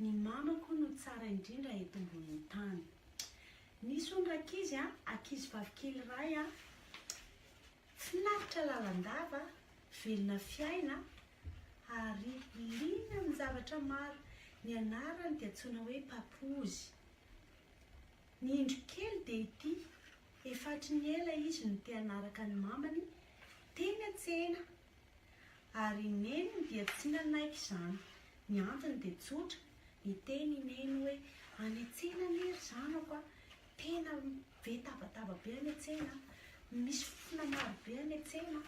Ny mamako no tsara indrindra eto mbonin'ny tany. Nisy hono rankizy a, ankizy vavy kely iray a, finaritra lalandava, velona fiaina ary liana amin'ny zavatra maro. Ny anarany dia antsoina hoe Papozy. Ny indro kely dia ity, efa hatry ny ela izy no te-hanaraka ny mamany, teny an-tsena Ary i Neny dia tsy nanaiky izany. Ny antony dia tsotra, niteny i Neny hoe, Any an-tsena anie ry zanako a! Tena be tabataba be any an-tsena, misy fofona maro be any an-tsena,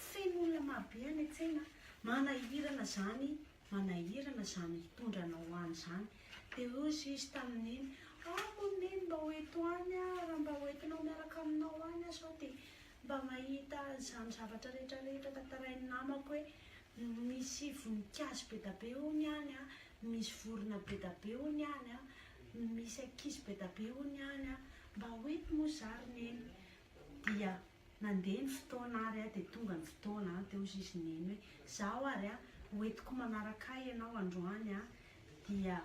feno olona maro be any an-tsena, manahirana izany, manahirana izany hitondra anao any izany. Dia hoy izy tamin'i Neny, Ah, hoy Neny, mba ho eto any aho, raha mba hoentinao miaraka aminao any aho sao dia Mba mahita izany zavatra rehetra rehetra tantarain'ny namako hoe misy voninkazo be da be hono any an, misy vorona be da be hono any an, misy ankizy be da be hono any an, mba ho eny moa za ry neny. Dia nandeha ny fotoana ary an, dia tonga ny fotoana an, dia hozy izy neny hoe, zaho ary an, ho entiko manaraka ahy ianao androany an, dia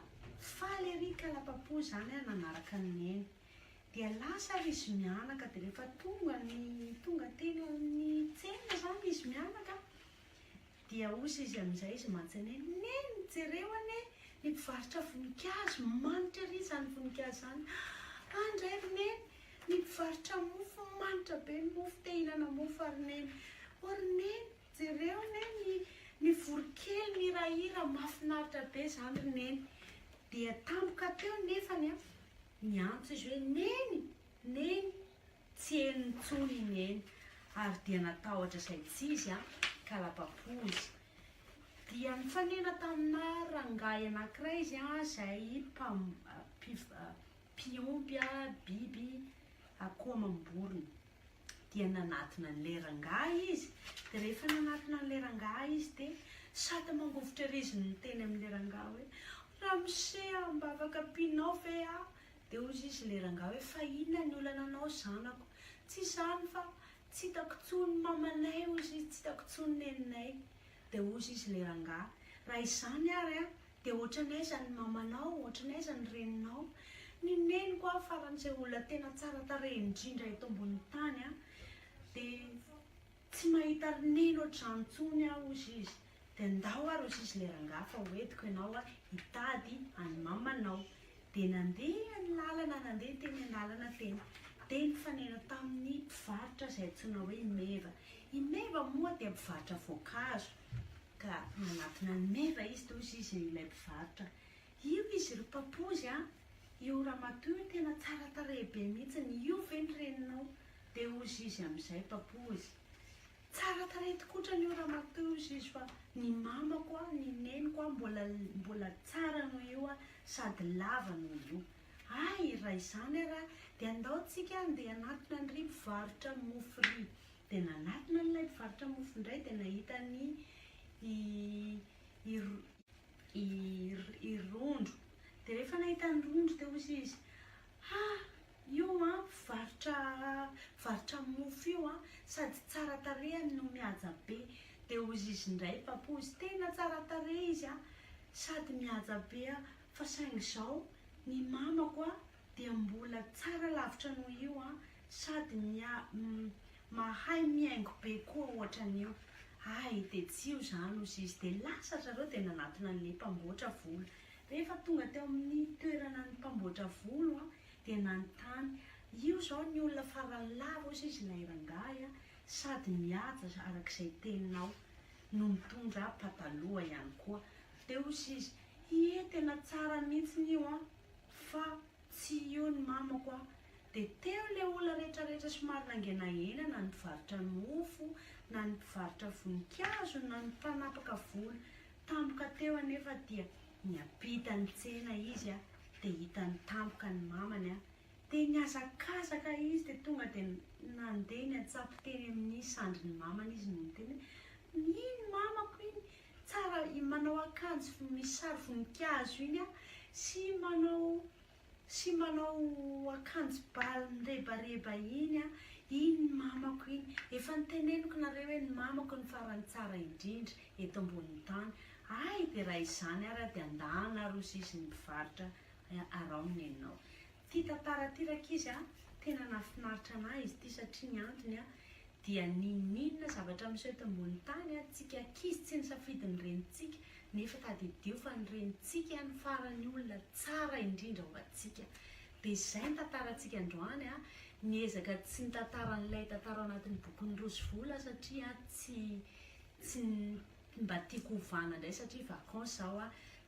faly ery ka lapa-po izany an nanaraka an'i neny. Dia lasa ary izy mianaka, dia rehefa tonga ny, tonga teny amin'ny tsena izany izy mianaka, dia hozy izy amin'izay izy mantsana hoe, Neny, jereo anie ny mpivarotra voninkazo, manitra ery izany voninkazo izany. An! indray ry Neny, ny mpivarotra mofo, manitra be ny mofo, te hihinana mofo aho ry Neny. Ô ry Neny, jereo anie ny, ny voronkely mihirahira, mahafinaritra be izany ry Neny. Dia tampoka teo nefany an! Niantso izy hoe, Neny! Neny! Tsy henony intsony i Neny, ary dia natahotra izay tsy izy ka lapa-poza. Dia nitsanena taminà rangahy anankiray izy izay mpam, mpiompy biby akoho amam-borona. dia nanatona an'ilay rangahy izy, dia rehefa nanatona an'ilay rangahy izy dia sady mangovitra ery izy no niteny amin'ilay rangahy hoe, Ramose a, mba afaka ampianao ve aho? Dia hoy izy ilay rangahy hoe, fa inona ny olana anao zanako? Tsy izany fa tsy hitako intsony ny mamanay hoy izy, tsy hitako intsony ny neninay. Dia hoy izy ilay rangahy, raha izany ary an, Dia ohatran'ny aiza ny mamanao, ohatran'ny aiza ny reninao? Ny neniko aho farany izay olona tena tsara tarehy indrindra eto ambonin'ny tany an! Dia tsy mahita ry neny ohatr'izany intsony aho hozy izy. Dia ndao ary hozy izy le rangahy fa hoentiko ianao an hitady an'i mamanao. Dia nandeha ny lalana nandeha teny an-dalana teny. Dia nifanena tamin'ny mpivarotra izay antsoina hoe i Meva. I Meva moa dia mpivarotra voankazo. Ka nanatona an'i Meva izy, dia hoy izy ilay mpivarotra, Io izy ry Papozy a! Io ramatoa io tena tsara tarehy be mihitsiny, io ve ny reninao? Dia hoy izy amin'izay Papozy, Tsara tarehy tokoa otrany io ramatoa io hoy izy fa ny mamako a, ny neniko a, mbola mbola tsara noho io a, sady lava noho io. Hay, raha izany ary dia andao tsika andeha hanatona an'ry mpivarotra mofo ry. dia nanatona an'ilay mpivarotra mofo indray dia nahita ny i Rondro. Dia rehefa nahita an'i Rondro dia hozy izy, Ha! io an, mpivarotra mofo io an, sady tsara tarehany no mihaja be. Dia hozy izy indray, Papoose, Tena tsara tarehy izy an, sady mihaja be an, fa saingy izao ny mamako an, dia mbola tsara lavitra noho io an, sady mia mahay mihaingo be koa ohatran'io, hay dia tsy io zany ozy izy, dia lasa ry zareo dia nanatona an'le mpamboatra volo, rehefa tonga teo amin'ny toerana ny mpamboatra volo an, dia nanontany, io zao ny olona farany lava ozy izy ilay rangahy an, sady mihaja arak'izay teninao, no mitondra pataloha ihany koa, dia ozy izy, ie tena tsara mihitsiny io an. Fa tsy io ny mamako a! Dia teo ilay olona rehetra rehetra somary nangenahena na ny mpivarotra mofo na ny mpivarotra voninkazo na ny mpanapaka volo tampoka teo anefa dia niampita ny tsena izy a! dia hitany tampoka ny mamany a! dia nihazakazaka izy dia tonga dia nandeha niantsampy teny amin'ny sandrin'ny mamany izy no niteny hoe, iny mamako iny Tsara i manao akanjo misy sary voninkazo iny a, sy manao sy manao akanjo bà mirebareba iny a, iny ny mamako iny, efa niteneniko nareo hoe ny mamako no farany tsara indrindra eto ambonin'ny tany, hay dia raha izany ary dia andahana aroso izy ny mpivarotra araho ny anao. Ity tantara ity rankizy a, tena nahafinaritra anah izy ity satria ny antony a dia ninoninona zavatra miseho eto ambony tany a, tsika ankizy tsy nisafidy ny renintsika nefa tadidio fa ny renintsika any farany olona tsara indrindra ho antsika. Dia izay ny tantarantsika androany a, niezaka tsy nitantara an'ilay tantara ao anatin'ny bokin'i Rosivola aho satria a tsy tsy mba tiako hovana indray satria vacances aho a,